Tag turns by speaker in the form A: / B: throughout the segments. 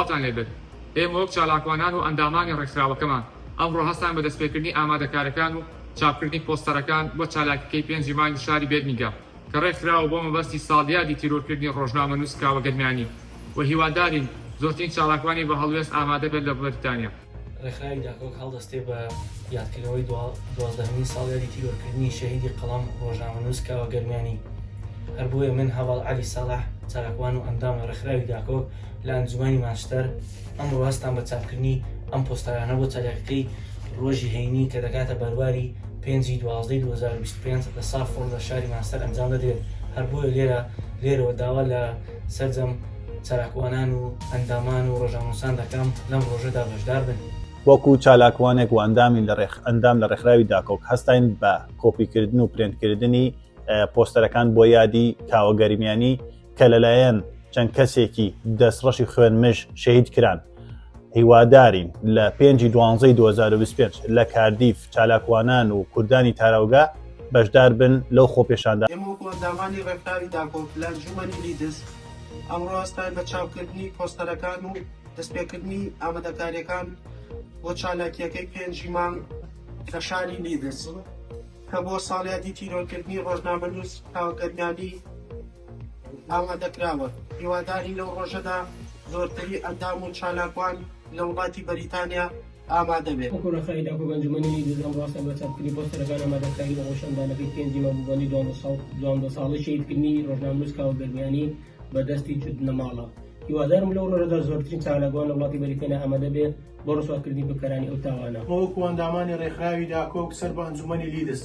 A: سڵاوتان لێبێت ئێمە وەک چالاکوانان و ئەندامانی ڕێکخراوەکەمان ئەمڕۆ هەستاین بە دەستپێکردنی ئامادەکاریەکان و چاپکردنی پۆستەرەکان بۆ چالاکیکەی پێنجی مانگی شاری بێرمینگام کە ڕێکخراوە بۆ مەبەستی ساڵیادی تیرۆرکردنی ڕۆژنامەنووس کاوە گەرمیانی و هیوادارین زۆرترین چالاکوانی بە هەڵوێست ئامادەبێت لە بەریتانیا. ڕێکخراوی داکۆک
B: هەڵدەستێ بە یادکردنەوەی دوازدەهەمین ساڵیادی تیرۆرکردنی شەهیدی قەڵەم ڕۆژنامەنووس کاوە گەرمیانی هەر بۆیە من هەواڵ علی ساڵح چالاکوان و ئەندامە ڕێکخراوی داکۆک لە ئەنجومانی مانشتەر ئەم ڕاستان بە چاپکردنی ئەم پۆستارانە بۆ چالاکەکەی ڕۆژی هەینی کە دەکاتە بەرواری پێنجی دوازدەی 2025 لە سافۆڵ لە شاری مانستەر ئەنجام دەدرێت هەر بۆیە لێرە لێرەوە داوا لە سەرجەم چالاکوانان و ئەندامان و ڕۆژنامەنووسان دەکەم لەم ڕۆژەدا بەشدار بن. وەکو چالاکوانێک
C: و ئەندامی لە ڕێخ ئەندام لە ڕێکخراوی داکۆک هەستاین بە کۆپی کردن و پرێنت کردنی پۆستەرەکان بۆ یادی کاوە گەرمیانی کە لەلایەن چەند کەسێکی دەستڕەشی خوێن مژ شەهید کران. هیوادارین لە پێنجی دوانزەی 2025 لە کاردیف چالاکوانان و کوردانی تاراوگە بەشدار بن لەو خۆپێشاندا. ئێمە وەکو ئەندامانی
D: ڕێکخراوی داکۆک لە ئەنجوومەنی لیدز ئەمڕۆ هەستاین بە چاپکردنی پۆستەرەکان و دەستپێکردنی ئامادەکارییەکان بۆ چالاکییەکەی پێنجی مانگ لە شاری لیدز کە بۆ ساڵیادی تیرۆرکردنی ڕۆژنامەنووس کاوە گەرمیانی ئامادەکراوە، هیوادارین لەو ڕۆژەدا زۆرتری ئەندام و چالاکوان لە وڵاتی بەریتانیا ئامادە بێت. وەکو ڕێکخراوی داکۆ بە ئەنجومەنی
E: نیوزی ئەمڕۆ هەستان بە چاپکردنی پۆستەرەکان ئامادەکاری بۆ خۆپیشاندانەکەی پێنجی مەبوبەنی دوانزە ساڵەی شەهیدکردنی ڕۆژنامەنووس کاوە گەرمیانی بە دەستی چوت نەماڵە هیوادارم لەو ڕۆژەدا زۆرترین چالاکوان لە وڵاتی بەریتانیا ئامادە بێ بۆ ڕسواکردنی بکەرانی ئەو تاوانە. وەکو ئەندامانی
F: ڕێکخراوی داکۆک سەر بە ئەنجومەنی لیدز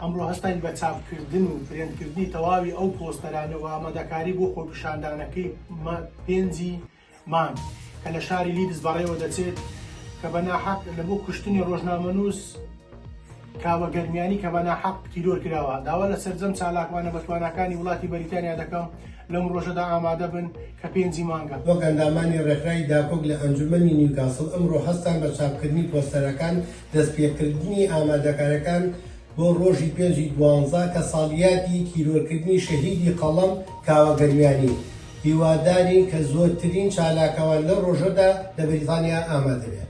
F: ئەمڕۆ هەستاین بە چاپکردن و پرێنتکردنی تەواوی ئەو پۆستەرانە و ئامادەکاری بۆ خۆپیشاندانەکەی مە پێنجی مانگ کە لە شاری لیدز بەڕێوە دەچێت کە بە ناحەق لە بۆ کوشتنی ڕۆژنامەنووس کاوە گەرمیانی کە بە ناحەق تیرۆر کراوە داوا لە سەرجەم چالاکوانە بەتواناکانی وڵاتی بەریتانیا دەکەم لەم ڕۆژەدا ئامادە بن کە پێنجی مانگە. وەک ئەندامانی
G: ڕێکخراوی داکۆک لە ئەنجومەنی نیوکاسڵ ئەمڕۆ هەستان بە چاپکردنی پۆستەرەکان دەستپێکردنی ئامادەکاریەکان بۆ ڕۆژی پێنجی دوانزە کە ساڵیادی تیرۆرکردنی شەهیدی قەڵەم کاوە گەرمیانی هیوادارین کە زۆرترین چالاکوان لەو ڕۆژەدا لە بەریتانیا ئامادەبێت.